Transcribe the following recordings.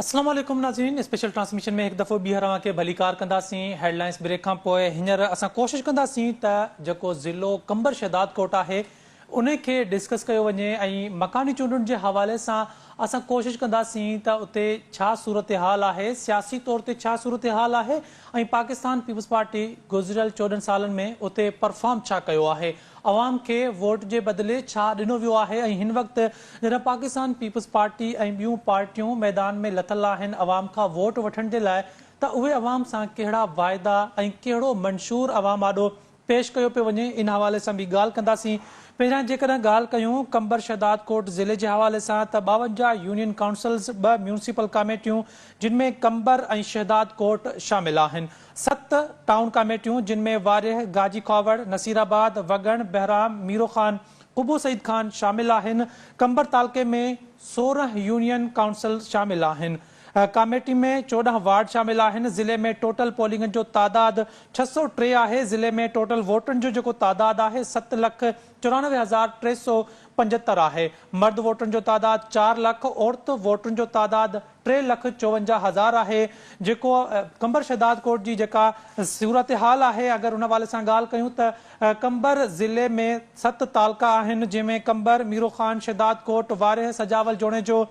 اسلام عليڪم ناظرين اسپيشل ٽرانسميشن ۾ هڪ دفعو ٻيهر اوهان کي ڀليڪار ڪنداسين هيڊلائنس بريڪ کان پوء هينئر اسان ڪوشش ڪنداسين ته جيڪو ضلعو قمبر شهدادڪوٽ آهي ان کي ڊسڪس ڪيو وڃي ۽ مڪاني چونڊن جي حوالي سان اسان ڪوشش ڪنداسين ته اتي ڇا صورتحال آهي، سياسي طور تي ڇا صورتحال آهي ۽ پاڪستان پيپلز پارٽي گذريل چوڏهن سالن ۾ اتي پرفارم ڇا ڪيو آهي، عوام کي ووٽ جي بدلي ڇا ڏنو ويو آهي ۽ هن وقت جڏهن پاڪستان پيپلز پارٽي ۽ ٻيون پارٽيون ميدان ۾ لٿل آهن عوام کان ووٽ وٺڻ جي لاء ته اهي عوام سان ڪهڙا واعدا ۽ ڪهڙو منشور عوام آڏو پيش ڪيو پيو وڃي، ان حوالي سان به ڳالهه ڪنداسين. پهريان جيڪڏهن ڳالهه ڪيون قمبر شهداد ڪوٽ ضلعي جي حوالي سان ته ٻاونجاهه يونين ڪائونسلز، ٻه ميونسپل ڪاميٽيون جن ۾ قمبر ۽ شهداد ڪوٽ شامل آهن، ست ٽائون ڪاميٽيون جن ۾ وارهه، گاجي کاوڙ، نصير آباد، وڳڻ، بهرام، ميرو خان، قبو سعيد خان شامل آهن، قمبر تعلقي ۾ سورهن يونين ڪائونسل شامل آهن. ڪاميٽي ۾ چوڏهن وارڊ شامل آهن، ضلعي ۾ ٽوٽل پولنگن جو تعداد ڇهه سؤ ٽي آهي، ضلعي ۾ ٽوٽل ووٽرن جو جيڪو تعداد آهي ست لک چورانوي هزار ٽي سؤ پنجهتر آهي، مرد ووٽرن جو تعداد چار لک، عورت ووٽرن جو تعداد ٽي لک چوونجاهه هزار آهي، جيڪو قمبر شهدادڪوٽ جي جيڪا صورتحال آهي اگر ان حوالي سان ڳالهه ڪيون ته قمبر ضلعي ۾ ست تعلقا آهن جنهن ۾ قمبر، ميرو خان، شهدادڪوٽ، وارهه، سجاول، جوڻيجو،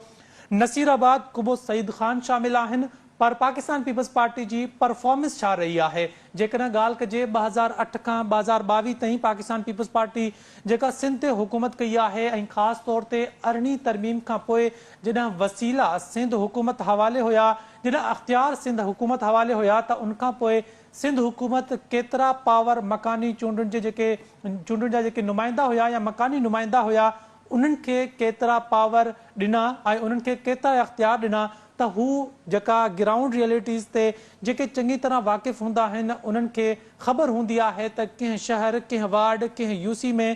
نصير آباد، قبو سعيد خان شامل آهن پر پاڪستان پيپلز پارٽي جي پرفارمنس ڇا رهي آهي؟ جيڪڏهن ڳالهه ڪجي ٻه هزار اٺ کان ٻه هزار ٻاويهه تائين پاڪستان پيپلز پارٽي جيڪا سنڌ تي حڪومت ڪئي آهي ۽ خاص طور تي ارڙهين ترميم کان پوء جڏهن وسيلا سنڌ حڪومت حوالي هيا، جڏهن اختيار سنڌ حڪومت حوالي هيا ته ان کان پوء سنڌ حڪومت ڪيترا پاور مڪاني چونڊن جي جيڪي چونڊن جا جيڪي نمائندا هيا يا مڪاني نمائندا هيا انهن کي ڪيترا پاور ڏنا ۽ انهن کي ڪيترا اختيار ڏنا ته هو جيڪا گرائونڊ ريئلٽيز تي جيڪي چڱي طرح واقف هوندا آهن انهن کي خبر هوندي آهي ته ڪنهن شهر، ڪنهن وارڊ، ڪنهن يو سي ۾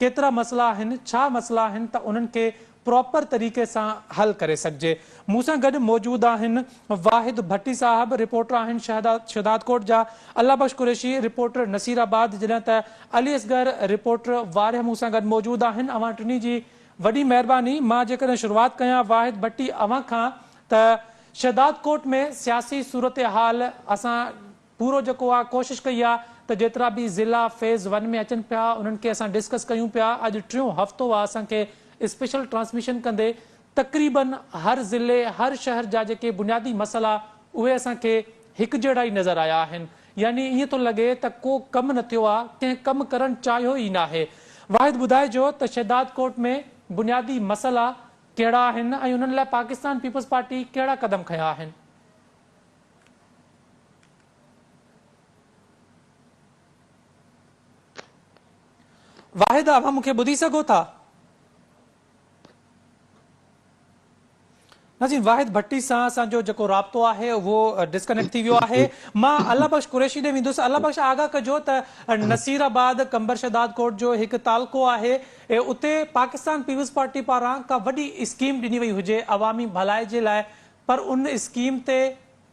ڪيترا مسئلا آهن، ڇا مسئلا آهن ته انهن کي پراپر طريقي سان حل ڪري سگهجي. مون سان گڏ موجود آهن واحد ڀٽي صاحب، رپورٽر آهن شهدادڪوٽ جا الله بخش قريشي، رپورٽر نصير آباد، جڏهن ته علي اصغر، رپورٽر وارهه مون سان گڏ موجود آهن، اوهان ٽنهي جي وڏي مهرباني، مان جيڪڏهن شروعات ڪيان واحد ڀٽي اوهان کان ته شهدادڪوٽ ۾ سياسي صورتحال اسان پورو جيڪو آ ڪوشش ڪئي آ ته جيترا به ضلعا فيز ون ۾ اچن پيا انهن کي اسان ڊسڪس ڪيون پيا اڄ ٽيون هفتو آ اسان کي اسپيشل ٽرانسميشن ڪندي تقريباً هر ضلعي، هر شهر جا جيڪي بنيادي مسئلا اهي اسان کي هڪجهڙا ئي نظر آيا آهن. يعني ائين ٿو لڳي ته ڪو ڪم نه ٿيو آ، ڪنهن ڪم ڪرڻ چاهيو ئي ناهي. واحد ٻڌائجو ته شهدادڪوٽ ۾ بنيادي مسئلا ڪهڙا آهن ۽ انهن لاء پاڪستان پيپلز پارٽي ڪهڙا قدم کنيا آهن؟ واحد اوهان مون کي ٻڌي سگهو ٿا؟ ناظرين واحد ڀٽي سان اسان جو جيڪو رابطو آهي اهو ڊسڪنيڪٽ ٿي ويو آهي مان الله بخش قريشي ڏي ويندس الله بخش آگاهه ڪجو ته نصير آباد قمبر شهداد ڪوٽ جو هڪ تعلقو آهي اتي پاڪستان پيپلز پارٽي پاران ڪا وڏي اسڪيم ڏني وئي هجي عوامي ڀلائي جي لاء پر ان اسڪيم تي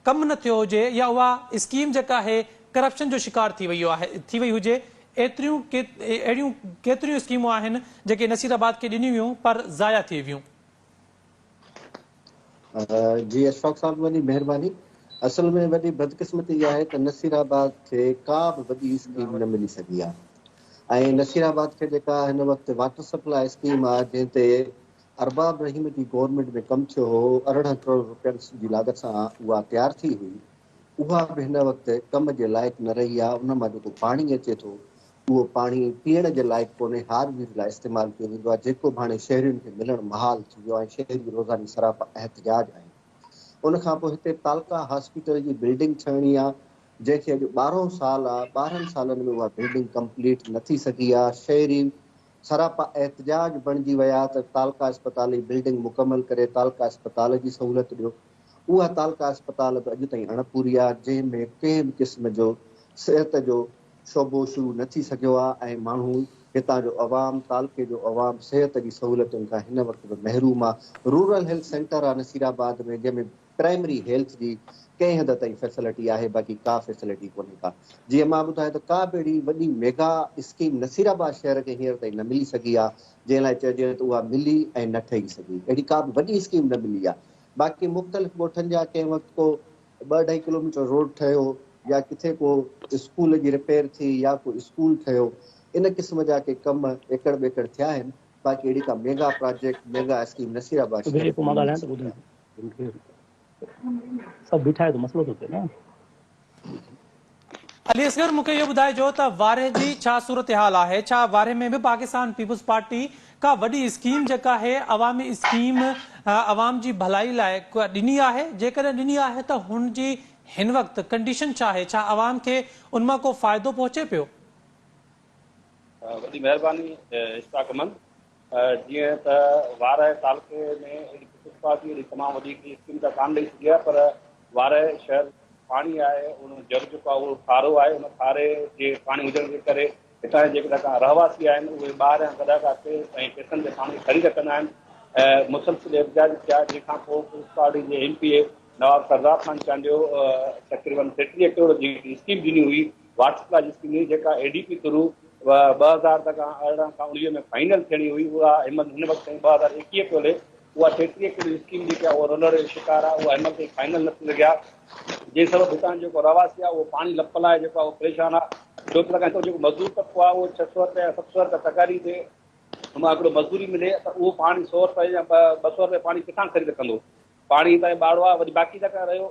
ڪم نه ٿيو هجي يا اها اسڪيم جيڪا هي ڪرپشن جو شڪار ٿي وئي آهي ٿي وئي هجي ايتريون اهڙيون ڪيتريون اسڪيمون آهن جيڪي نصير آباد کي ڏنيون ويون پر ضايع ٿي ويون. جي اشفاق صاحب وڏي مهرباني اصل ۾ وڏي بدقسمتي اها آهي ته نصير آباد کي ڪا به وڏي اسڪيم نه ملي سگهي آهي ۽ نصير آباد کي جيڪا هن وقت واٽر سپلاء اسڪيم آهي جنهن تي ارباب رحيم جي گورنمينٽ ۾ ڪم ٿيو هو، ارڙهن ڪروڙ رپين جي لاڳت سان اها تيار ٿي هئي، اها به هن وقت ڪم جي لائق نه رهي آهي، ان مان جيڪو پاڻي اچي ٿو، اهو پاڻي پيئڻ جي لائق ڪونهي، هار وير لاء استعمال ڪيو ويندو آهي، جيڪو به هاڻي شهرين کي ملڻ محال ٿي ويو آهي، شهري روزاني سراپا احتجاج آهن، ان کان پوء هتي تعلقه هاسپيٽل جي بلڊنگ ٺهڻي آهي، جنهن کي اڄ ٻارهون سال آهي، ٻارهن سالن ۾ اها بلڊنگ ڪمپليٽ نه ٿي سگهي آهي، شهري سراپا احتجاج بڻجي ويا ته تعلقه اسپتال جي بلڊنگ مڪمل ڪري تعلقه اسپتال جي سهولت ڏيو. اها تعلقه اسپتال به اڄ تائين اڻ پوري آ، جنهن ۾ ڪنهن به قسم جو صحت جو شعبو شروع نه ٿي سگهيو آ ۽ ماڻهو هتان جو عوام تعلقي جو عوام صحت جي سهولتن کان هن وقت به محروم آ. رورل هيلٿ سينٽر آ نصيرآباد ۾ جنهن ۾ پرائمري هيلٿ جي ڪنهن حد تائين فيسلٽي آهي باقي ڪا فيسلٽي ڪونهي ڪا جيئن مان ٻڌايو ته ڪا به اهڙي وڏي ميگا اسڪيم نصير آباد شهر کي هينئر تائين نه ملي سگهي آ جنهن لاء چئجي ته اها ملي ۽ نه ٺهي سگهي اهڙي ڪا به وڏي اسڪيم نه ملي آ باقي مختلف ڳوٺن جا ڪنهن وقت ڪو ٻه اڍائي ڪلوميٽر روڊ ٺهيو يا ڪٿي ڪو اسڪول جي رپيئر ٿي يا ڪو اسڪول ٺهيو ان قسم جا ڪي ڪم ايڪڙ ٻيڪڙ ٿيا آهن باقي اهڙي ڪا mega project mega scheme Nasirabad شهر کي نه ملي سگهي آ. علي اصغر مون کي اهو ٻڌائجو ته وارهه جي ڇا صورتحال آهي ڇا وارهه ۾ به پاڪستان پيپلز پارٽي ڪا وڏي اسڪيم جيڪا هي عوامي اسڪيم عوام جي ڀلائي لاء ڪا ڏني آهي جيڪڏهن ڏني آهي ته هن جي هن وقت ڪنڊيشن ڇا آهي ڇا عوام کي ان مان ڪو فائدو پهچي پيو وڏي مهرباني اشفاق احمد جيئن ته وارهه تعلقي ۾ اهڙي پيپلز پارٽي اهڙي تمام وڏي هڪڙي اسڪيم ته ڪانه ڏئي سگهي ها پر وارهه شهر پاڻي آهي ان جر جيڪو آهي اهو کارو آهي ان کاري جي پاڻي هجڻ جي ڪري هتان جي جيڪي ڪا رهواسي آهن اهي ٻاهريان گڏا ڪا ڪي ۽ پيسن تي پاڻي خريد ڪندا آهن ۽ مسلسل احتجاج ٿيا جنهن کان پوء پيپلز پارٽي جي M P A Nawab Sardar Khan Chandio تقريبن ٽيٽيهه ڪروڙ جي اسڪيم ڏني هئي واٽس ڪاليج ڪني جيڪا اي ڊي پي ٿرو ٻه هزار تڪ ارڙهن کان اڻويهه ۾ فائنل ٿيڻي هئي اها همل هن وقت تائين ٻه هزار ايڪيهه پيو هلي اها ٽيٽيهه ڪروڙ اسڪيم جيڪي آهي اها رولر جو شڪار آهي اها همل تائين فائنل نه ٿي سگهيا جنهن سبب هتان جو جيڪو رهواسي آهي اهو پاڻي لپ لاء جيڪو آهي اهو پريشان آهي ٻيو ته هتان جو جيڪو مزدور طبقو آهي اهو ڇهه سؤ رپيا يا ست سؤ رپيا پگهاري تي مان هڪڙو مزدوري ملي ته اهو پاڻي سؤ رپيا يا ٻه سؤ رپيا پاڻي ڪٿان خريد ڪندو پاڻي هتان ٻاڙو آهي وري باقي جيڪا رهيو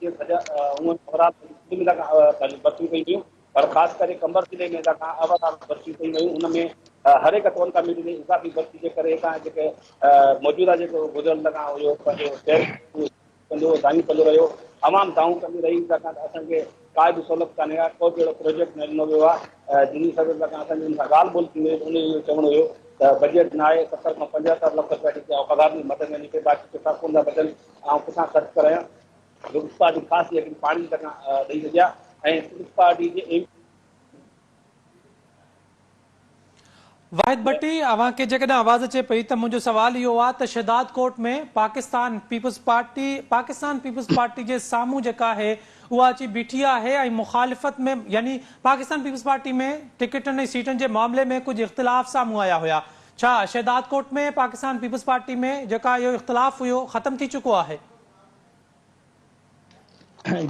جي سجا هونئن سوراب ۽ سنڌ ضلعن کان برسيون ڪيون ويون پر خاص ڪري قمبر ضلعي ۾ لاکان اوهر برسيون ڪيون ويون ان ۾ هر هڪ ٽون ڪا ملي جي اضافي برسي جي ڪري هتان جيڪي موجوده جيڪو گذريل لاکان هيو پنهنجو شهر ڪندو دانهيون ڪندو رهيو عوام دانهون ڪندي رهي لاکان اسان کي ڪا به سهولت ڪانهي ها ڪو به اهڙو پروجيڪٽ نه ڏنو ويو آهي جن سبب لاکان اسان جن سان ڳالهه ٻولهه ٿيندي ان جو چوڻو هيو ته بجيٽ نه آهي ستر کان پنجهتر لک روپيا جيڪي اوقدار جي مدد ۾ نڪي باقي ڪتا ڪون ٿا بچن آئون ڪٿان خرچ ڪرايان جو پيپلز پارٽي خاص جي هڪڙي پاڙي جي طرفان ڏئي سگهيا ۽ پيپلز پارٽي جي ايم. واحد ڀٽي اوهان کي جيڪڏهن آواز اچي پئي ته منهنجو سوال اهو آ ته Shahdadkot ۾ Pakistan Peoples Party Pakistan Peoples Party جي سامهون جيڪا آهي اها اچي بيٺي آهي ۽ مخالفت ۾ يعني پاڪستان پيپلز پارٽي ۾ ٽڪيٽن ۽ سيٽن جي معاملي ۾ ڪجهه اختلاف سامهون آيا هيا ڇا شهدادڪوٽ ۾ پاڪستان پيپلز پارٽي ۾ جيڪا اهو اختلاف هيو ختم ٿي چڪو آهي؟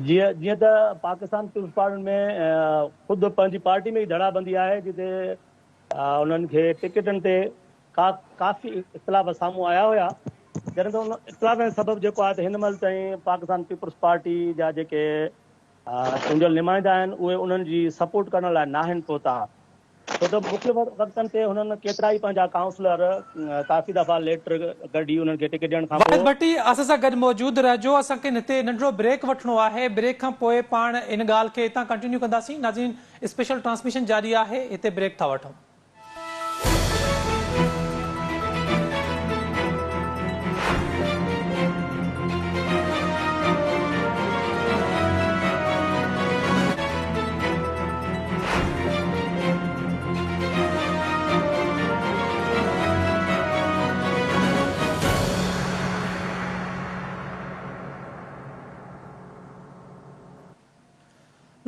جي جيئن ته پاڪستان پيپلز پارٽي ۾ خود پنهنجي پارٽي ۾ ئي ڌڙا بندي آهي جتي انهن کي ٽڪيٽن تي ڪا ڪافي اختلاف سامهون آيا هيا جڏهن ته ان اختلافن سبب جيڪو آهي ته هن مهل تائين پاڪستان پيپلز پارٽي جا جيڪي چونڊيل نمائندا آهن اهي انهن جي سپورٽ ڪرڻ لاء ناهن پهتا ڇو ته مختلف وقتن تي هنن ڪيترائي پنهنجا ڪائونسلر ڪافي دفعا ليٽر گڏي انهن کي ٽڪيٽ ڏيڻ کانپوء واحد ڀٽي اسان سان گڏ موجود رهجو اسان کي هتي ننڍڙو بريڪ وٺڻو آهي بريڪ کان پوء پاڻ ان ڳالهه کي هتان ڪنٽينيو ڪنداسين ناظرين اسپيشل ٽرانسميشن جاري آهي هتي بريڪ ٿا وٺون.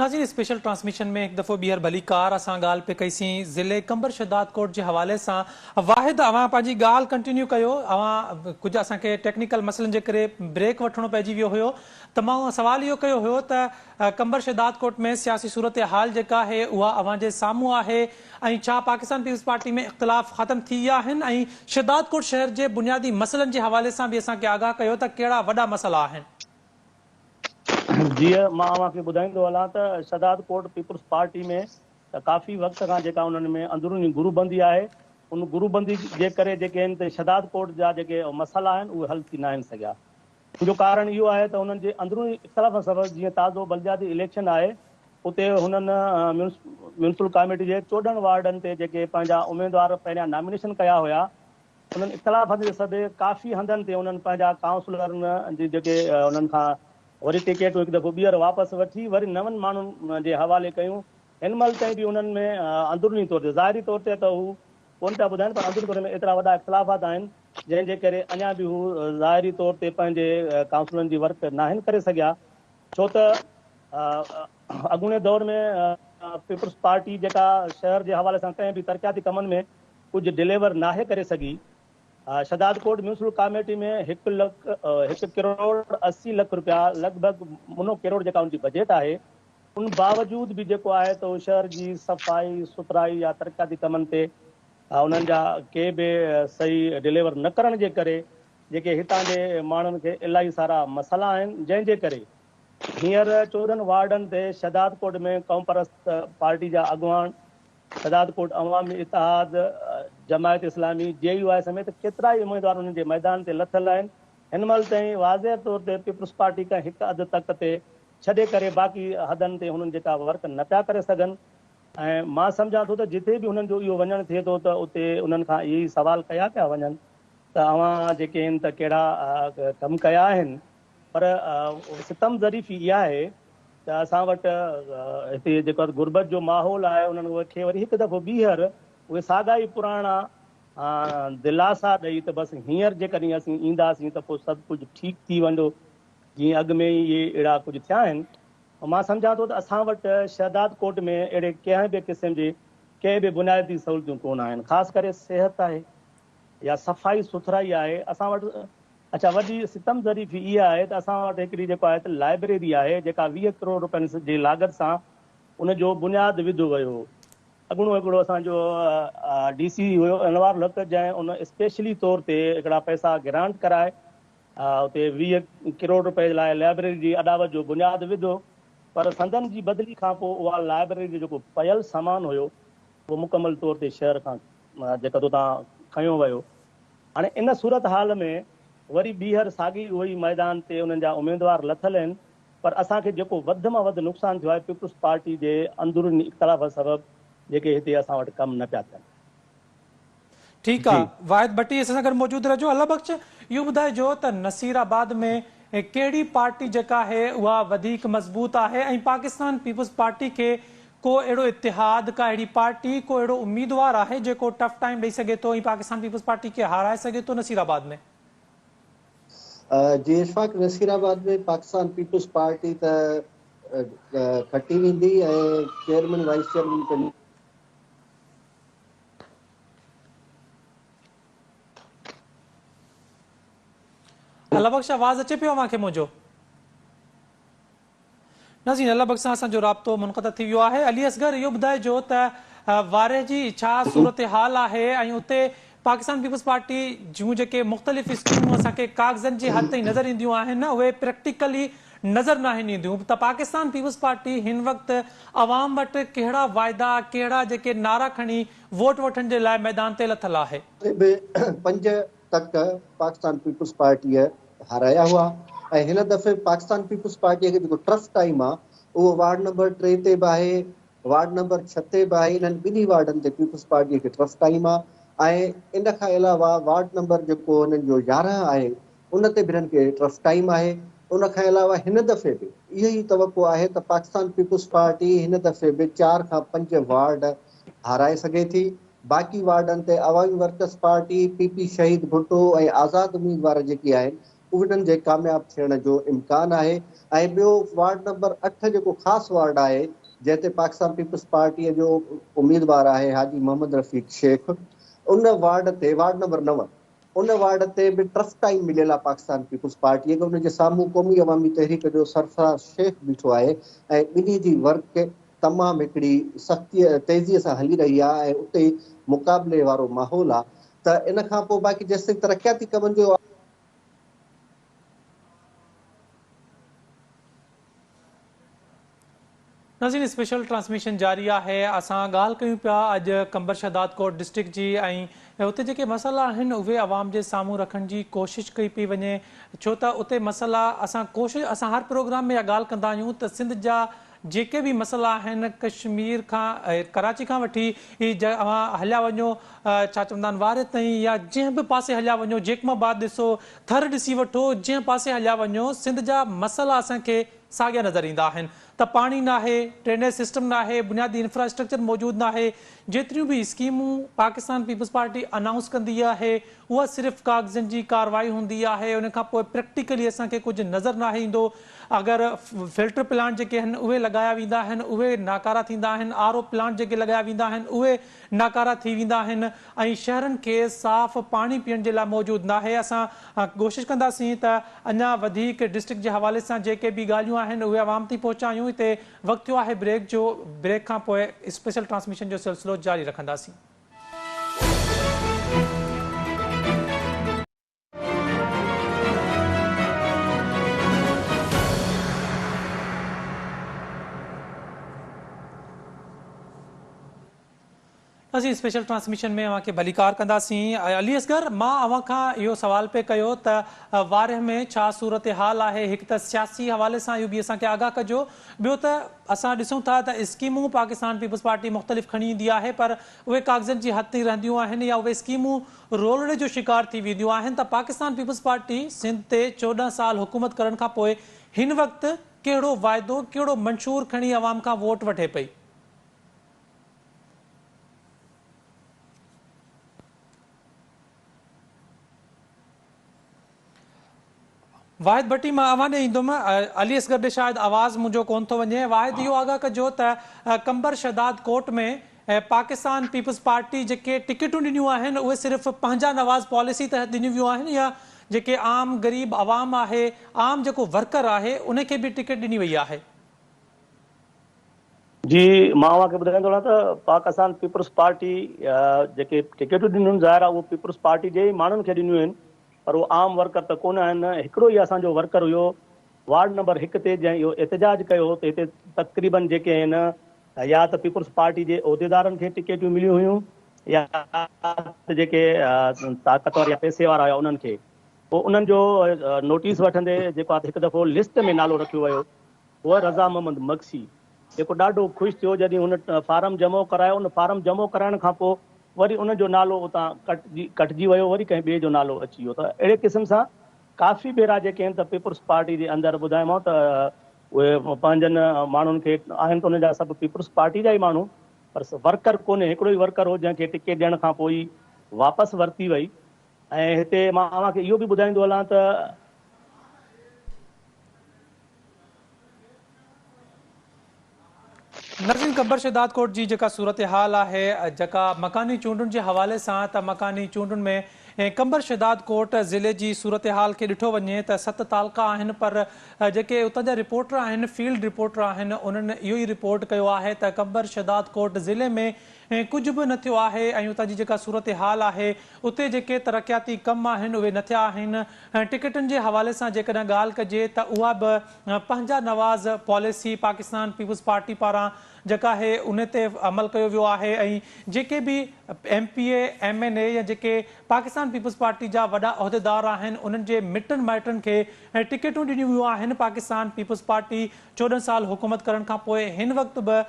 ناظرين اسپيشل ٽرانسميشن ۾ هڪ دفعو ٻيهر ڀلي ڪار اسان ڳالهه پي ڪئي سين ضلعي قمبر شهداد ڪوٽ جي حوالي سان واحد اوهان پنهنجي ڳالهه ڪنٽينيو ڪيو اوهان ڪجهه اسان کي ٽيڪنيڪل مسئلن جي ڪري بريڪ وٺڻو پئجي ويو هيو ته مان سوال اهو ڪيو هيو ته قمبر شهداد ڪوٽ ۾ سياسي صورتحال جيڪا آهي اها اوهان جي سامهون آهي ۽ ڇا پاڪستان پيپلز پارٽي ۾ اختلاف ختم ٿي ويا آهن ۽ شهداد ڪوٽ شهر جي بنيادي مسئلن جي حوالي سان به اسان کي آگاهه ڪيو ته ڪهڙا وڏا مسئلا آهن. جيئن مان اوهان کي ٻڌائيندو هلان ته شهداد ڪوٽ پيپلز پارٽي ۾ ڪافي وقت کان جيڪا انهن ۾ اندروني گروه بندي آهي ان گروه بندي جي ڪري جيڪي هن تي شهداد ڪوٽ جا جيڪي مسئلا آهن اهي حل ٿي ناهن سگهيا. ان جو ڪارڻ اهو آهي ته هنن جي اندروني اختلافن سبب جيئن تازو بلدياتي اليڪشن آهي اتي هنن ميونسپل ڪاميٽي جي چوڏهن وارڊن تي جيڪي پنهنجا اميدوار پهريان نامينيشن ڪيا هيا انهن اختلافن جي سبب ڪافي هنڌن تي انهن پنهنجا ڪائونسلرن جي جيڪي انهن کان وري ٽڪيٽون هڪ دفعو ٻيهر واپس وٺي وري نون ماڻهن جي حوالي ڪيون هن مهل تائين به انهن ۾ اندروني طور تي ظاهري طور تي ته هو ڪونه پيا ٻڌائين پر اندرون ڪري ۾ ايترا وڏا اختلافات آهن جنهن جي ڪري اڃا به هو ظاهري طور تي پنهنجي ڪائونسلن جي ورڪ ناهن ڪري سگهيا ڇو ته اڳوڻي دور ۾ پيپلز پارٽي جيڪا شهر جي حوالي سان ڪنهن به ترقياتي ڪمن ۾ ڪجهه ڊليور ناهي ڪري سگهي شهدادڪوٽ ميونسپل ڪاميٽي ۾ هڪ لک هڪ ڪروڙ اسي لک رپيا لڳ ڀڳ منو ڪروڙ جيڪا ان جي بجيٽ آهي ان باوجود به جيڪو آهي ته شهر جي صفائي سٿرائي يا ترقياتي ڪمن تي انهن جا ڪي به صحيح ڊليور نه ڪرڻ جي ڪري جيڪي هتان جي ماڻهن کي الاهي سارا مسئلا آهن جنهن جي ڪري هينئر چوڏهن وارڊن تي شهدادڪوٽ ۾ قومپرست پارٽي جا اڳواڻ شهدادڪوٽ عوامي اتحاد جماعت اسلامي جي يو آء سميت ڪيترائي اميدوار انهن جي ميدان تي لٿل آهن هن مهل تائين واضح طور تي پيپلز پارٽي کان هڪ اڌ تڪ تي ڇڏي ڪري باقي حدن تي هنن جي ڪا ورڪ نه پيا ڪري سگهن ۽ مان سمجهان ٿو ته جتي به هنن جو اهو وڃڻ ٿئي ٿو ته اتي انهن کان اهي ئي سوال ڪيا پيا وڃن ته اوهان جيڪي هن ته ڪهڙا ڪم ڪيا آهن پر ستم ظريفي اها آهي ته اسان وٽ هتي جيڪو غربت جو ماحول آهي انهن کي وري هڪ دفعو ٻيهر اهي ساڳا ئي پراڻا دلاسا ڏئي ته بس هينئر جيڪڏهن اسين اينداسين ته پوء سڀ ڪجهه ٺيڪ ٿي ويندو جيئن اڳ ۾ ئي اهي اهڙا ڪجهه ٿيا آهن، مان سمجهان ٿو ته اسان وٽ شهدادڪوٽ ۾ اهڙي ڪنهن به قسم جي ڪي به بنيادي سهولتيون ڪونه آهن، خاص ڪري صحت آهي يا صفائي سٿرائي آهي، اسان وٽ اڇا وڏي ستم ظريفي اها آهي ته اسان وٽ هڪڙي جيڪو آهي ته لائبريري آهي جيڪا ويهه ڪروڙ روپين جي لاڳت سان ان جو بنياد وڌو ويو هو، اڳوڻو هڪڙو اسان جو ڊي سي هيو انوارالحق جنهن ان اسپيشلي طور تي هڪڙا پئسا گرانٽ ڪرائي اتي ويهه ڪروڙ رپئي لاء لائبريري جي اڏاوت جو بنياد وڌو پر سندن جي بدلي کانپوء اها لائبريري جو جيڪو پيل سامان هيو اهو مڪمل طور تي شهر کان جيڪد اتان کنيو ويو. هاڻي ان صورتحال ۾ وري ٻيهر ساڳي اهوئي ميدان تي انهن جا اميدوار لٿل آهن پر اسان کي جيڪو وڌ مان وڌ نقصان ٿيو آهي پيپلز پارٽي جي اندروني اختلافن سبب جيڪي هتي اسان وٽ ڪم نه پيا ٿين. ٺيڪ آ واحد ڀٽي اسان سان گڏ موجود رهجو الله بخش اهو ٻڌائجو ته نصير آباد ۾ ڪهڙي پارٽي جيڪا آهي اها وڌيڪ مضبوط آهي ۽ پاڪستان پيپلز پارٽي کي ڪو اهڙو اتحاد ڪا اهڙي پارٽي ڪو اهڙو اميدوار آهي جيڪو ٽف ٽائيم ڏئي سگهي ٿو ۽ پاڪستان پيپلز پارٽي کي هارائي سگهي ٿو نصير آباد ۾ جي Ashfaq Nasirabad ۾ Pakistan Peoples Party ته کٽي ويندي ۽ chairman vice chairman Allah Bakhsh آواز اچي پيو اوهان کي منهنجو؟ نازين الله بخش سان اسان جو رابطو منقطع ٿي ويو آهي علي اصغر اهو ٻڌائجو ته وارهه جي ڇا صورتحال آهي ۽ اتي پاڪستان پيپلز پارٽي جون جيڪي مختلف اسڪيمون اسان کي ڪاغذن جي حد تائين نظر اينديون آهن نه اهي پريڪٽيڪلي نظر ناهن اينديون ته پاڪستان پيپلز پارٽي هن وقت عوام وٽ ڪهڙا واعدا ڪهڙا جيڪي نعرا کڻي ووٽ وٺڻ جي لاء ميدان تي لٿل آهي. اتي به پنج تڪ پاڪستان پيپلز پارٽيء هارايا هئا ۽ هن دفعي پاڪستان پيپلز پارٽيء کي جيڪو ٽرف ٽائيم آهي اهو وارڊ نمبر ٽي تي به آهي وارڊ نمبر ڇهه تي به آهي، انهن ٻنهي وارڊن تي پيپلز پارٽيء کي ٽرف قائم آهي ۽ ان کان علاوه وارڊ نمبر جيڪو هنن جو يارهن آهي ان تي به هنن کي ٽرف قائم آهي، ان کان علاوه هن دفعي به اهو ئي توقع آهي ته پاڪستان پيپلز پارٽي هن دفعي به چار کان پنج وارڊ هارائي سگهي ٿي، باقي وارڊن تي Awami Workers Party, P P Shaheed Bhutto ۽ آزاد اميدوار جيڪي آهن انهن جي ڪامياب ٿيڻ جو امڪان آهي ۽ ٻيو وارڊ نمبر اٺ جيڪو خاص وارڊ آهي جنهن تي پاڪستان پيپلز پارٽيء جو اميدوار آهي حاجي محمد رفيق شيخ ان وارڊ تي وارڊ نمبر نو ان وارڊ تي به ٽرف ٽائيم مليل آهي پاڪستان پيپلز پارٽيء کي ان جي سامهون قومي عوامي تحريڪ جو سرفراز شيخ بيٺو آهي ۽ ٻنهي جي ورڪ تمام هڪڙي سختيء تيزيء سان هلي رهي آهي ۽ اتي مقابلي وارو ماحول آهي ته ان کان پوء باقي جيستائين ترقياتي ڪمن جو ناظرين اسپيشل ٽرانسميشن جاري آهي اسان ڳالهه ڪيون پيا اڄ قمبر شهدادڪوٽ ڊسٽرڪٽ جي ۽ اتي جيڪي مسئلا آهن اهي عوام جي سامهون رکڻ جي ڪوشش ڪئي پئي وڃي ڇو ته اتي مسئلا اسان ڪوشش اسان هر پروگرام ۾ اها ڳالهه ڪندا آهيون ته سنڌ جا جيڪي به مسئلا آهن ڪشمير کان ڪراچي کان وٺي اوهان هليا وڃو ڇا چوندا آهن واري تائين يا جنهن به پاسي هليا وڃو جيڪم آباد ڏسو ٿر ڏسي وٺو جنهن پاسي هليا وڃو سنڌ جا مسئلا اسان کي ساڳيا نظر ايندا آهن ته پاڻي ناهي ڊرينيج سسٽم ناهي بنيادي انفراسٽرڪچر موجود ناهي جيتريون به اسڪيمون پاڪستان پيپلز پارٽي انائونس ڪندي آهي اها صرف ڪاغذن جي ڪارروائي هوندي آهي ان کان پوء پريڪٽيڪلي اسان کي ڪجهه نظر ناهي ايندو اگر فلٽر پلانٽ جيڪي آهن اهي لڳايا ويندا آهن اهي ناڪارا ٿيندا آهن آر او پلانٽ جيڪي لڳايا ويندا آهن اهي ناڪارا ٿي ويندا آهن ۽ شهرن کي صاف پاڻي پيئڻ جي لاء موجود ناهي اسان ڪوشش ڪنداسين ته اڃا وڌيڪ ڊسٽرڪٽ جي حوالي سان جيڪي به ڳالهيون آهن اهي عوام تائين پهچايون هتي وقت ٿيو آهي بريڪ جو بريڪ کان پوء اسپيشل ٽرانسميشن جو سلسلو جاري رکنداسين. اسين اسپيشل ٽرانسميشن ۾ اوهان کي ڀليڪار ڪنداسين علي اصغر مان اوهان کان اهو سوال پئي ڪيو ته وارهه ۾ ڇا صورتحال آهي هڪ ته سياسي حوالي سان اهو به اسان کي آگاهه ڪجو ٻيو ته اسان ڏسون ٿا ته اسڪيمون پاڪستان پيپلز پارٽي مختلف ڪھڻي ايندي آھي پر اھي ڪاغذن جي حد تائين رھنديون آھن يا اھي اسڪيمون رولڙي جو شڪار ٿي وينديون آھن ته پاڪستان پيپلز پارٽي سنڌ تي چوڏهن سال حڪومت ڪرڻ کان پوء ھن وقت ڪھڙو واعدو ڪھڙو منشور کڻي عوام کان ووٽ وٺي پئي. واحد ڀٽي مان اوهان ڏي ايندم، علي اصغر ڏي شايد آواز منهنجو ڪون ٿو وڃي، واحد اهو آگاهه ڪجو ته Qambar Shahdadkot ۾ Pakistan Peoples Party جيڪي ٽڪيٽون ڏنيون آهن اهي صرف پنهنجا نواز پاليسي تحت ڏنيون ويون آهن يا جيڪي عام غريب عوام آهي عام جيڪو ورڪر آهي ان کي به ٽڪيٽ ڏني وئي آهي. جي مان اوهان کي ٻڌائيندو رهان ته پاڪ اسان پيپلز پارٽي جيڪي ٽڪيٽون ڏنيون آهن ظاهر آهي اهو پيپلز پارٽي جي ئي ماڻهن کي ڏنيون آهن پر اهو عام ورڪر ته ڪونه آهن هڪڙو ئي اسان جو ورڪر هيو وارڊ نمبر هڪ تي جنهن اهو احتجاج ڪيو هو ته هتي تقريبن جيڪي آهن يا ته پيپلز پارٽي جي عهديدارن کي ٽڪيٽون مليون هيون يا ته جيڪي طاقتور يا پئسي وارا هيا انهن کي پوء انهن جو نوٽيس وٺندي جيڪو آهي هڪ دفعو لسٽ ۾ نالو رکيو ويو هو رضا محمد مگسي جيڪو ڏاڍو خوش ٿيو جڏهن هن فارم جمع ڪرايو ان فارم جمع ڪرائڻ کان پوء وري ان جو نالو اتان ڪٽجي ويو وري ڪنهن ٻئي جو نالو اچي ويو ته اهڙي قسم سان ڪافي ڀيرا جيڪي آهن ته پيپلز پارٽي جي اندر ٻڌايومانو ته اهي پنهنجن ماڻهن کي آهن ته ان جا سڀ پيپلز پارٽي جا ئي ماڻهو پر ورڪر ڪونهي هڪڙو ئي ورڪر هو جنهن کي ٽڪيٽ ڏيڻ کان پوء ئي واپس ورتي وئي ۽ هتي مان اوهان کي اهو به ٻڌائيندو هلان ته ناظرين خبر شهدادڪوٽ جي جيڪا صورتحال آهي جيڪا مڪاني چونڊن جي حوالي سان ته مڪاني چونڊن ۾ قمبر شهدادڪوٽ ضلعي جي صورتحال کي ڏٺو وڃي ته ست تعلقا آهن پر جيڪي اتان جا رپورٽر آهن فيلڊ رپورٽر آهن انهن اهو ئي رپورٽ ڪيو آهي ته قمبر شهدادڪوٽ ضلعي ۾ ائين ڪجهه به نه ٿيو آهي ۽ اتان جي جيڪا صورتحال آهي اتي جيڪي ترقياتي ڪم آهن اهي نه ٿيا آهن ۽ ٽڪيٽن جي حوالي سان جيڪڏهن ڳالهه ڪجي ته اها به پنهنجا نواز پاليسي پاڪستان پيپلز پارٽي پاران جيڪا آهي انهي تي عمل ڪيو ويو آهي ۽ جيڪي به M P A M N A يا جيڪي پاڪستان پيپلز پارٽي جا وڏا عهديدار آهن انهن جي مٽن مائٽن کي ٽڪيٽون ڏنيون ويون آهن پاڪستان پيپلز پارٽي چوڏهن سال حڪومت ڪرڻ کان پوء هن وقت به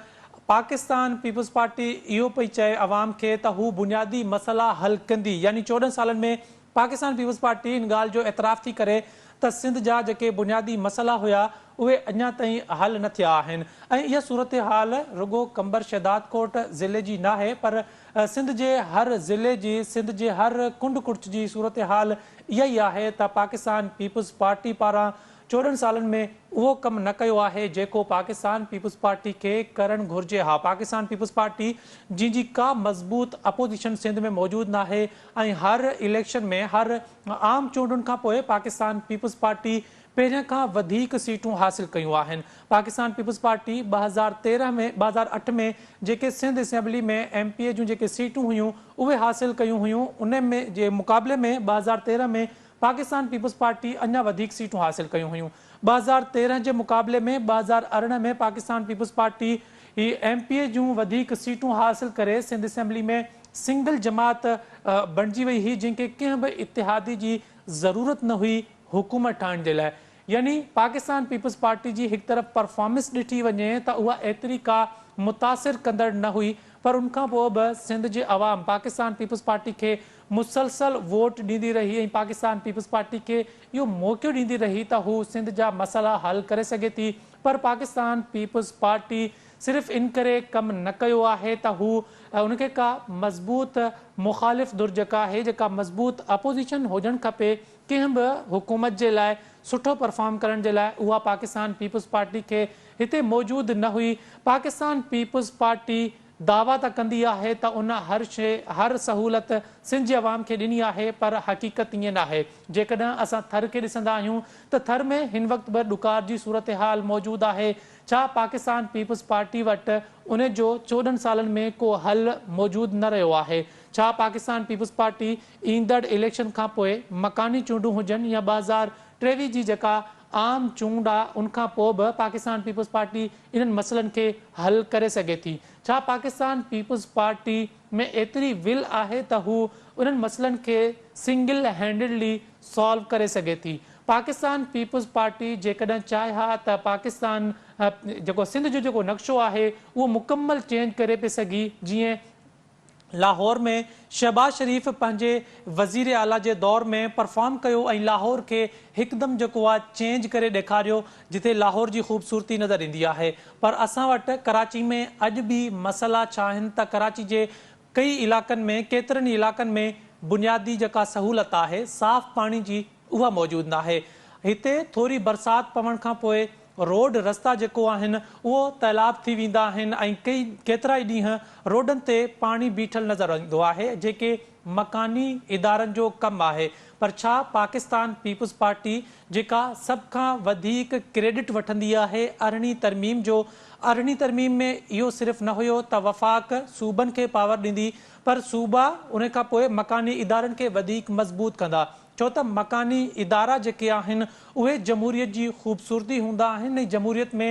پاڪستان پيپلز پارٽي اهو پئي چئي عوام کي ته هو بنيادي مسئلا حل ڪندي يعني چوڏهن سالن ۾ پاڪستان پيپلز پارٽي ان ڳالهه جو اعتراف ٿي ڪري ته سنڌ جا جيڪي بنيادي مسئلا هيا اهي اڃا تائين حل نه ٿيا آهن ۽ اها صورتحال رڳو قمبر شهدادڪوٽ ضلعي جي ناهي پر سنڌ جي هر ضلعي جي سنڌ جي هر ڪنڊ ڪڙڇ جي صورتحال اها ئي آهي ته پاڪستان پيپلز پارٽي پاران چوڏهن سالن ۾ اهو ڪم نه ڪيو آهي جيڪو پاڪستان پيپلزپارٽي کي ڪرڻ گهرجي ها پاڪستان پيپلزپارٽي جنهن جي ڪا مضبوط اپوزيشن سنڌ ۾ موجود ناهي ۽ هر اليڪشن ۾ هر عام چونڊن کانپوء پاڪستان پيپلزپارٽي پهرين کان وڌيڪ سيٽون حاصل ڪيون آهن پاڪستان پيپلزپارٽي ٻه هزار تيرهن ۾ ٻه هزار اٺ ۾ جيڪي Sindh assembly ۾ M P A جون جيڪي سيٽون هيون اهي حاصل ڪيون هيون انهن جي مقابلي ۾ ٻه هزار تيرهن ۾ پاڪستان پيپلز پارٽي اڃا وڌيڪ سيٽون حاصل ڪيون هيون. ٻه هزار تيرهن جي مقابلي ۾ ٻه هزار ارڙهن ۾ پاڪستان پيپلز پارٽي ئي ايم پي اي جون وڌيڪ سيٽون حاصل ڪري سنڌ اسيمبلي ۾ سنگل جماعت بڻجي وئي هئي جنهن کي ڪنهن به اتحادي جي ضرورت نه هئي حڪومت ٺاهڻ جي لاء يعني پاڪستان پيپلز پارٽي جي هڪ طرف پرفارمنس ڏٺي وڃي ته اها ايتري ڪا متاثر ڪندڙ نه هئي پر ان کان پوء به سنڌ جي عوام پاڪستان پيپلز پارٽي کي مسلسل ووٽ ڏيندي رهي ۽ پاڪستان پيپلز پارٽي کي اهو موقعو ڏيندي رهي ته هو سنڌ جا مسئلا حل ڪري سگهي ٿي پر پاڪستان پيپلز پارٽي صرف ان ڪري ڪم نه ڪيو آهي ته هو ان کي ڪا مضبوط مخالف ڌر جيڪا آهي جيڪا مضبوط اپوزيشن هجڻ کپي ڪنهن به حڪومت جي لاء سٺو پرفارم ڪرڻ جي لاء اها پاڪستان پيپلز پارٽي کي هتي موجود نه هئي، پاڪستان پيپلز پارٽي دعويٰ ته ڪندي آهي ته ان هر شيء هر سهولت سنڌ جي عوام کي ڏني آهي پر حقيقت ائين ناهي، جيڪڏهن اسان ٿر کي ڏسندا آهيون ته ٿر ۾ هن وقت به ڏڪار جي صورتحال موجود آهي، ڇا پاڪستان پيپلز پارٽي وٽ ان جو چوڏهن سالن ۾ ڪو حل موجود نه رهيو آهي، ڇا پاڪستان پيپلز پارٽي ايندڙ اليڪشن کانپوء مڪاني چونڊون هجن يا ٻه هزار ٽيويهه جي جيڪا عام چونڊ آ ان کان پوء به پاڪستان پيپلز پارٽي انهن مسئلن کي حل ڪري سگهي ٿي. ڇا پاڪستان پيپلز پارٽي ۾ ايتري ول آهي ته هو انهن مسئلن کي سنگل هينڊڊلي سالو ڪري سگهي ٿي. پاڪستان پيپلز پارٽي جيڪڏهن چاهي ها ته پاڪستان جيڪو سنڌ جو جيڪو نقشو آهي اهو مڪمل چينج ڪري پئي سگهي جيئن لاهور ۾ شهباز شريف پنهنجي وزير اعليٰ جي دور ۾ پرفارم ڪيو ۽ لاهور کي هڪدم جيڪو آهي چينج ڪري ڏيکاريو جتي لاهور جي خوبصورتي نظر ايندي آهي پر اسان وٽ ڪراچي ۾ اڄ به مسئلا ڇا آهن ته ڪراچي جي ڪئي علائقن ۾ ڪيترن ئي علائقن ۾ بنيادي جيڪا سهولت آهي صاف پاڻي جي اها موجود ناهي. هتي ٿوري برسات پوڻ کان پوء روڊ رستا جيڪو آهن اهو تيلاب ٿي ويندا آهن ۽ ڪي ڪيترائي ڏينهن روڊن تي پاڻي بيٺل نظر ايندو آهي جيڪي مڪاني ادارن جو ڪم آهي پر ڇا پاڪستان پيپلز پارٽي جيڪا سڀ کان وڌيڪ ڪريڊٽ وٺندي آهي ارڙهين ترميم جو ارڙهين ترميم ۾ اهو صرف نه هيو ته وفاق صوبن کي پاور ڏيندي پر صوبا ان کان پوء مڪاني ادارن کي وڌيڪ مضبوط ڪندا ڇو ته مڪاني ادارا جيڪي آهن اهي جمهوريت جي خوبصورتي هوندا آهن ۽ جمهوريت ۾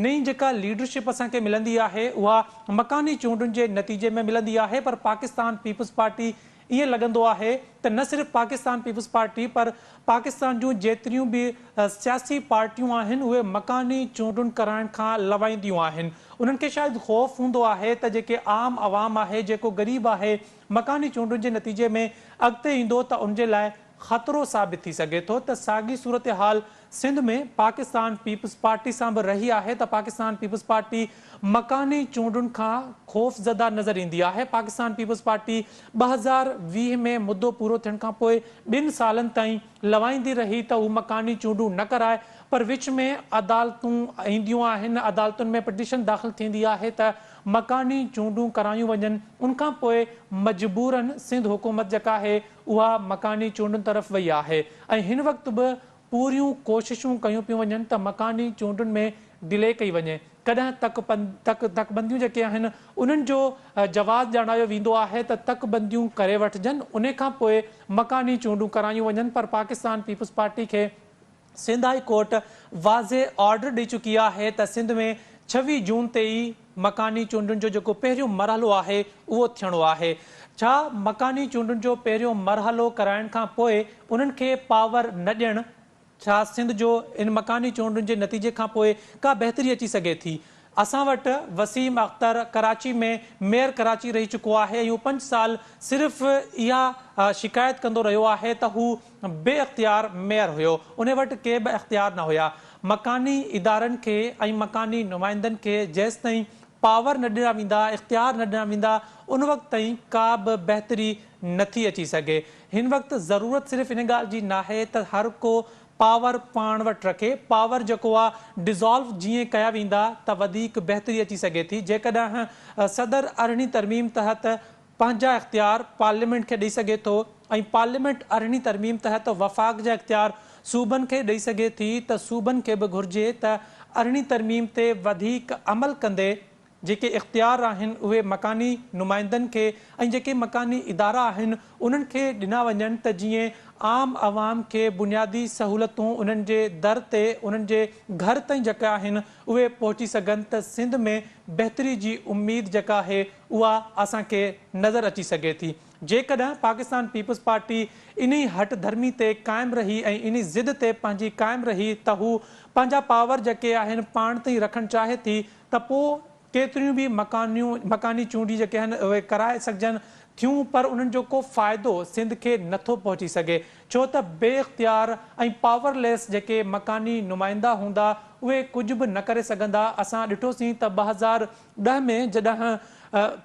نئين جيڪا ليڊرشپ اسان کي ملندي آهي اها مڪاني چونڊن جي نتيجي ۾ ملندي آهي پر پاڪستان پيپلز پارٽي ائين لڳندو آهي ته نه صرف پاڪستان پيپلز پارٽي پر پاڪستان جون جيتريون به سياسي پارٽيون آهن اهي مڪاني چونڊن ڪرائڻ کان لوائينديون آهن انهن کي شايد خوف هوندو آهي ته جيڪي عام عوام آهي جيڪو غريب آهي مڪاني چونڊن جي نتيجي ۾ اڳتي ايندو ته ان جي لاء خطرو ثابت ٿي سگهي ٿو ته ساڳي صورتحال سنڌ ۾ پاڪستان پيپلزپارٽي سان به رهي آهي ته پاڪستان پيپلزپارٽي مڪاني چونڊن کان خوفزده نظر ايندي آهي پاڪستان پيپلزپارٽي ٻه هزار ويهه ۾ مدو پورو ٿيڻ کان پوء ٻن سالن تائين لوائيندي رهي ته هو مڪاني چونڊون نه ڪرائي پر وچ ۾ عدالتون اينديون آهن عدالتن ۾ پٽيشن داخل ٿيندي آهي ته مڪاني چونڊون ڪرايون وڃن ان کان پوء مجبورن سنڌ حڪومت جيڪا آهي اها مڪاني چونڊن طرف وئي آهي ۽ هن وقت به پوريون ڪوششون ڪيون پيون وڃن ته مڪاني چونڊن ۾ ڊلي ڪئي وڃي ڪڏهن تڪ تڪ بنديون جيڪي آهن انهن جو جواز ڄاڻايو ويندو آهي ته تڪ بنديون ڪري وٺجن ان کان پوء مڪاني چونڊون ڪرايون وڃن پر پاڪستان پيپلز پارٽي کي سنڌ هائي ڪورٽ واضح آرڊر ڏئي چڪي آهي ته سنڌ ۾ ڇويهه جون تي ئي مڪاني چونڊن جو جيڪو پهريون مرحلو آهي اهو ٿيڻو آهي. ڇا مڪاني چونڊن جو پهريون مرحلو ڪرائڻ کان پوء انهن کي پاور نه ڏيڻ؟ ڇا سنڌ جو ان مڪاني چونڊن جي نتيجي کان پوء ڪا بهتري اچي سگهي ٿي؟ اسان وٽ وسيم اختر ڪراچي ۾ ميئر ڪراچي رهي چڪو آهي ۽ هو پنج سال صرف اها شڪايت ڪندو رهيو آهي ته هو بي اختيار ميئر هيو ان وٽ ڪي به اختيار نه هيا مڪاني ادارن کي ۽ مڪاني نمائندن کي جيستائين پاور نه ڏنا ويندا اختيار نه ڏنا ويندا ان وقت تائين ڪا به بهتري نٿي اچي سگهي هن وقت ضرورت صرف ان ڳالهه جي ناهي ته هر ڪو پاور پاڻ وٽ رکي پاور جيڪو آ ڊيزالو جيئن ڪيا ويندا ته وڌيڪ بهتري اچي سگهي ٿي جيڪڏهن صدر ارڙهين ترميم تحت پنهنجا اختيار پارليامينٽ کي ڏئي سگهي ٿو ۽ پارليامينٽ ارڙهين ترميم تحت وفاق جا اختيار صوبن کي ڏئي سگهي ٿي ته صوبن کي به گهرجي ته ارڙهين ترميم تي وڌيڪ عمل ڪندي جيڪي اختيار آهن اهي مڪاني نمائندن کي ۽ جيڪي مڪاني ادارا آهن انهن کي ڏنا وڃن ته جيئن عام عوام کي بنيادي سهولتون انهن جي در تي انهن جي گهر تائين جيڪي آهن اهي پهچي سگهن ته سنڌ ۾ بهتري جي اميد جيڪا آهي اها اسان کي نظر اچي سگهي ٿي جيڪڏهن پاڪستان پيپلز پارٽي انهي هٺ ڌرمي تي قائم رهي ۽ انهي ضد تي پنهنجي قائم رهي ته هو پنهنجا پاور جيڪي آهن پاڻ تائين رکڻ چاهي ٿي ته پوء ڪيتريون به مڪانيون مڪاني چونڊي جيڪي آهن اهي ڪرائي سگهجن ٿيون پر انهن جو ڪو فائدو سنڌ کي نٿو پهچي سگهي ڇو ته بي اختيار ۽ پاور ليس جيڪي مڪاني نمائندا هوندا اهي ڪجهه به نه ڪري سگهندا اسان ڏٺوسين ته ٻه هزار ڏهه ۾ جڏهن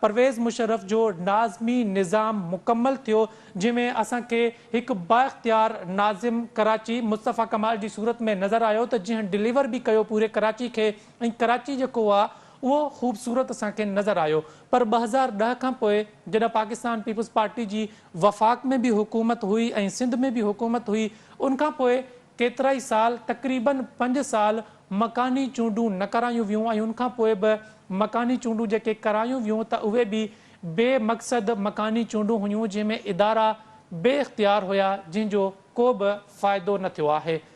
پرويز مشرف جو ناظمي نظام مڪمل ٿيو جنهن ۾ اسان کي هڪ با اختيار ناظم ڪراچي مصطفيٰ ڪمال جي صورت ۾ نظر آيو ته جنهن ڊليور به ڪيو پوري ڪراچي کي ۽ ڪراچي جيڪو هو اهو خوبصورت اسان کي نظر آيو پر ٻه هزار ڏهه کان پوء جڏهن پاڪستان پيپلز پارٽي جي وفاق ۾ به حڪومت هئي ۽ سنڌ ۾ به حڪومت هئي ان کان پوء ڪيترائي سال تقريباً پنج سال مڪاني چونڊون نه ڪرايون ويون ۽ ان کان پوء به مڪاني چونڊون جيڪي ڪرايون ويون ته اهي به بي مقصد مڪاني چونڊون هيون جنهن ۾ ادارا بي اختيار هيا جنهن جو ڪو به فائدو نه ٿيو آهي